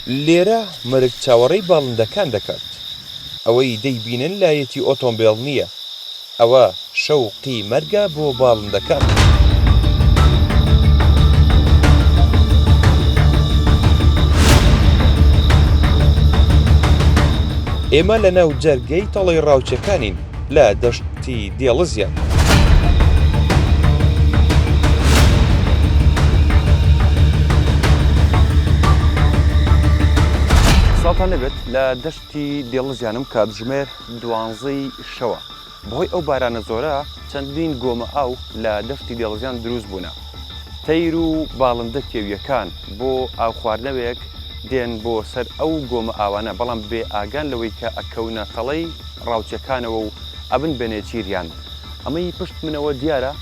لێرە مەرگ چاوەڕێی باڵندەکان دەکات. ئەوەی دەیبینن لایەتی ئۆتۆمبێڵ نییە. ئەوە شەوقی مەرگە بۆ باڵندەکان. ئێمە لەناو جەرگەی تەڵەی ڕاوچەکانین. لە دەشتی دێڵزیان. سڵاوتان لێبێت لە دەشتی دێڵزیانم کاتژمێر دوانزەی شەوە بەهۆی ئەو بارانە زۆرە چەندین گۆمە ئاو لە دەشتی دێڵزیان دروست بوونە تەیر و باڵندە کێوییەکان بۆ ئاوخواردنەوەیەک دێن بۆ سەر ئەو گۆمە ئاوانە، بەڵام بێ ئاگان لەوەی کە ئەکەونە تەڵەی ڕاوچەکانەوە و ئەبن بە نێچیریان. ئەمەی پشت منەوە دیارە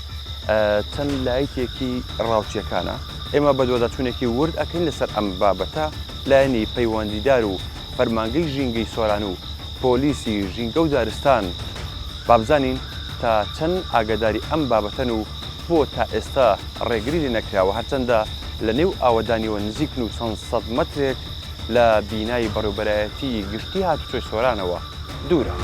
چەند لایتێکی ڕاوچیەکانە. ئێمە بەدواداچوونێکی ورد ئەکەین لەسەر ئەم بابەتە، لایەنی پەیوەندیدار و فەرمانگەی ژینگەی سۆران و پۆلیسی ژینگە و دارستان بابزانین تا چەند ئاگاداری ئەم بابەتەن و بۆ تا ئێستا ڕێگری لێ نەکراوە، هەرچەندە لە نێو ئاوەدانیەوە نزیکن و چەند سەد مەترێک لە بینای بەڕێوبەرایەتی گشتی هاتوچۆی سۆرانەوە دوورە.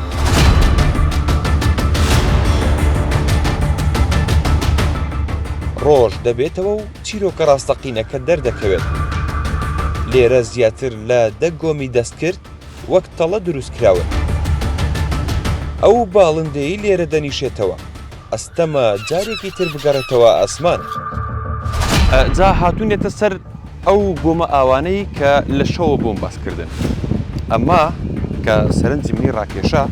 ڕۆژ دەبێتەوە و چیرۆکە ڕاستەقینەکە دەردەکەوێت. لێرە زیاتر لە دە گۆمی دەستکرد وەک تەڵە دروستکراون. ئەو باڵندەی لێرە دەنیشێتەوە، ئەستەمە جارێکی تر بگەڕێتەوە ئاسمان. جا هاتوونێتە سەر ئەو گۆمە ئاوانەی کە لە شەوە بۆم باس کردن. ئەمە کە سەرنجی منی ڕاکێشا،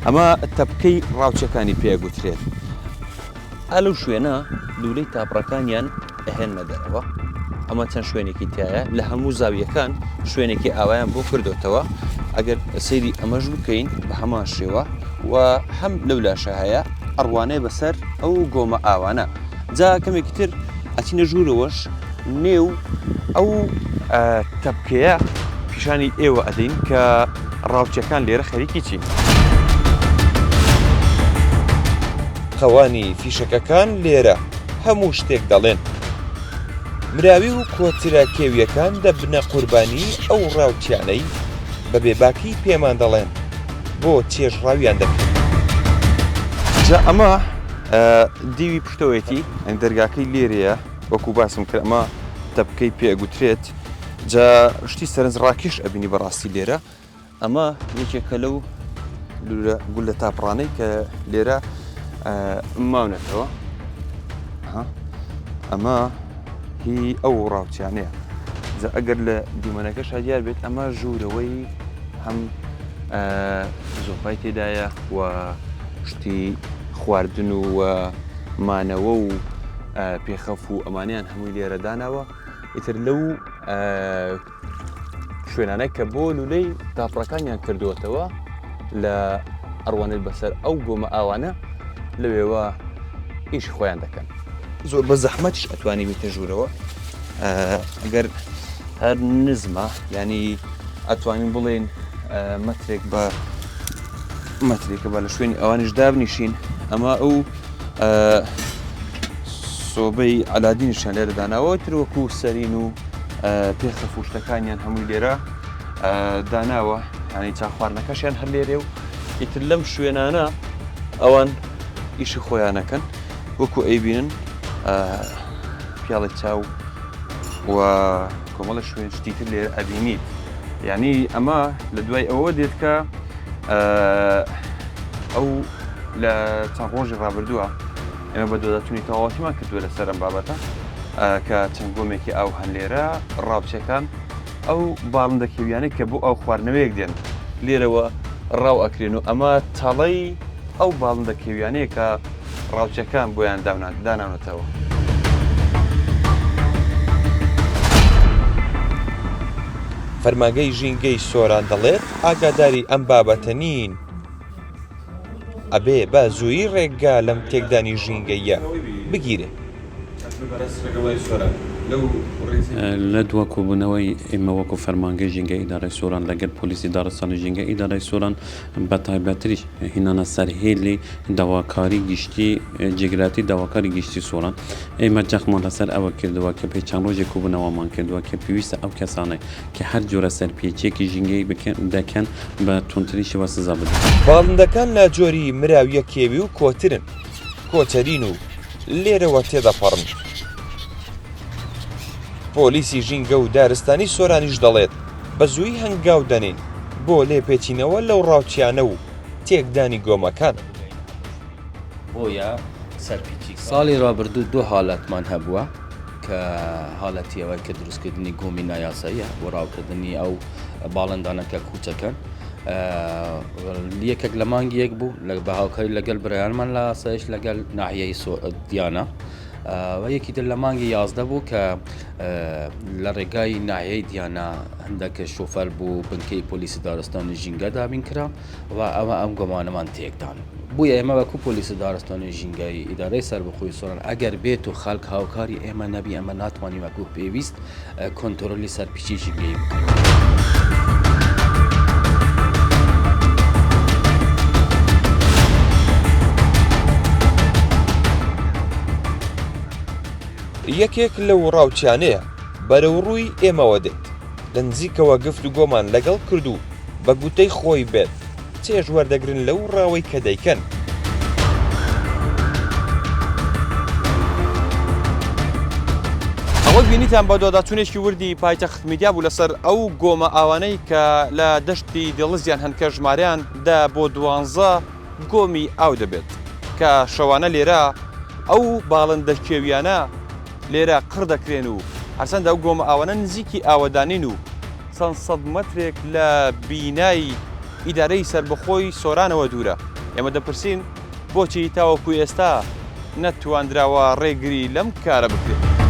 ئەمە تەپکەی ڕاوچەکانی پێ ئەگوترێت. ئا لەو شوێنە لوولەی تاپڕەکانیان ئەهێنمە دەرەوە ئەمە چەند شوێنێکی تایە لە هەموو زاویەکان شوێنێکی ئاوایان بۆ کردوتەوە ئەگەر سەیری ئەمەش بکەین بە هەمان شێوە و هەم لەو لاشە هەیە ئەڕوانەیە بەسەر ئەو گۆمە ئاوانە جا کەمێکی تر ئەچینە ژوورەوەش نێو ئەو تەپکەیە پیشانی ئێوە ئەدەین کە ڕاوچەکان لێرە خەریکی چین. خەوانی فیشەکەکان لێرە هەموو شتێک دەڵێن. مراوی و کۆترە کێوییەکان دەبنە قوربانیی ئەو ڕاوچیانەی بە بێباکی پێمان دەڵێن بۆ چێژڕاویان دەکەین. جا ئەمە دیوی پشتەوەیەتی، یانی دەرگاکەی لێرەیە، وەکوو باسم کرد ئەمە تەپکەی پێ ئەگوترێت، جا شتی سەرنجڕاکێش ئەبینی بەڕاستی لێرە. ئەمە یەکێکە لەو لولە گولە تاپڕانەی کە لێرە ماونەتەوە ئەمە هی ئەو ڕاوچیانەیە جا ئەگەر لە دیمەنەکە شادیار بێت ئەمە ژوورەوەی هەم زۆپای تێدایە و شتی خواردن و مانەوە و پێخەف و ئەمانیان هەمووی لێرەدانەوە ئیتر لەو شوێنانە کە بۆ لولەی تاپڕەکانیان کردووەتەوە لە ئەڕوانێت بەسەر ئەو گۆمە ئاوانە لەوێوە ئیش خۆیان دەکەن زۆر بە زەحمەتش ئەتوانی بێتە ژوورەوە ئەگەر هەر نزمە ینی ئەتوانین بڵێن مەترێک بە مەترێکە با لە شوێنی ئەوانیش دابنیشین ئەمە ئەو سۆبەی ئەلادینیشان لێرە داناوە تروەکو سەرین و پێخە فوشتەکانیان هەمووی لێرە داناوە ینی چا خواردنەکەشیان هەر لێرێ و ئیتر لەم شوێنانە ئەوان ئیشی خۆیانەکەن وەکو ئەیبینن پیاڵی چاو و کۆمەڵە شوێن شتی تر لێرە ئەبینیت یعنی ئەمە لە دوای ئەوە دێت کە ئەو لە چەند ڕۆژی ڕابردووە ئێمە بە دۆداتونی تەواوەتیمان کردووە لەسەر ئەم بابەتە کە چەند گۆمێکی ئاو هەن لێرە ڕاوچەکان ئەو باڵندە کێویانەی کە بۆ ئەو خواردنەوەیەک دێن لێرەوە ڕاو ئەکرێن و ئەمە تەڵەی ئەو باڵندە کێویانەیە کە ڕاوچەکان بۆیان داناونەتەوە. فەرمانگەی ژینگەی سۆران دەڵێت ئاگاداری ئەم بابەتە نین، ئەبێ بە زوویی ڕێگا لەم تێکدانی ژینگەییە بگیرێت. لە دوا کۆبوونەوەی ئێمە وەکو فەرمانگەی ژینگەی ئیدارەی سۆران لەگەل پۆلیسی داڕستانی ژینگەی ئیدارەی سۆران، بەتایبەتریش هینانە سەر هێلی داواکاری گشتی جێگراتی داواکاری گشتی سۆران ئێمە جەختمان لەسەر ئەوە کردووە کە پێی چەند ڕۆژێک کۆبوونەوەمان کردووە کە پێویستە ئەو کەسانەی کە هەر جۆرە سەرپێچیەکی ژینگەیی بکەن دەکەن بە توندترین شێوە سزا بدرێن. باڵندەکان لاجۆری مراویە کێوی و کۆترن، کۆتەرین و لێرەوە تێدەپەڕن. پۆلیسی ژینگە و دارستانی سۆرانیش دەڵێت بە زووی هەنگاو دەنین بۆ لێپێچینەوە لەو ڕاوچیانە و تێکدانی گۆمەکان. ساڵی ڕابردوو دوو حاڵەتمان هەبووە. کە هالەتی ئەوەیە کە دروستکردنی گۆمی نایاساییە بۆ ڕاوکردنی ئەو باڵندانە کە کوچەکەن یەکێک لە مانگی یەک بوو لە بەهاوکاری لەگەل برایانمان لە ئاسایش لەگەل ناحیەی دیانە و یەکی تر لە مانگی یازدە بوو کە لە ڕێگای ناحیەی دیانە هەندێکە شوفەر بوو بنکەی پۆلیسی دارستانی ژینگە دابین کرا و ئەمە ئەم گۆمانەمان تێکدان. بۆیە ئێمە وەکو پۆلیسی دارستانی ژینگەیی ئیدارەی سەربەخۆی سۆران ئەگەر بێت و خەڵک هاوکاری ئێمە نەبی ئەمە ناتوانین وەکو پێویست کۆنترۆلی سەرپیچی ژینگەیی بکەین. یەکێک لەو ڕاوچیانەیە بەرەوڕووی ئێمەوە دێت. لە نزیکەوە گفتوگۆمان لەگەڵ کرد و بە گوتەی خۆی بێت چێژ وەردەگرن لەو ڕاوەی کە دەیکەن. ئەوەی بینیتان بەدواداچوونێکی وردی پایتەخت میدیا بوو لەسەر ئەو گۆمە ئاوانەی کە لە دەشتی دێڵزیان هەن کە ژمارەیان دە بۆ دوانزە گۆمی ئاو دەبێت کە شەوانە لێرە ئەو باڵندە کێویانە لێرە قڕ دەکرێن و هەرچەندە ئەو گۆمە ئاوانە نزیکی ئاوەدانین و چەند سەد مەترێک لە بینای ئیدارەی سەربەخۆی سۆرانەوە دوورە ئێمە دەپرسین بۆچی تاوەکو ئێستا نەتواندراوە ڕێگری لەم کارە بکرێت.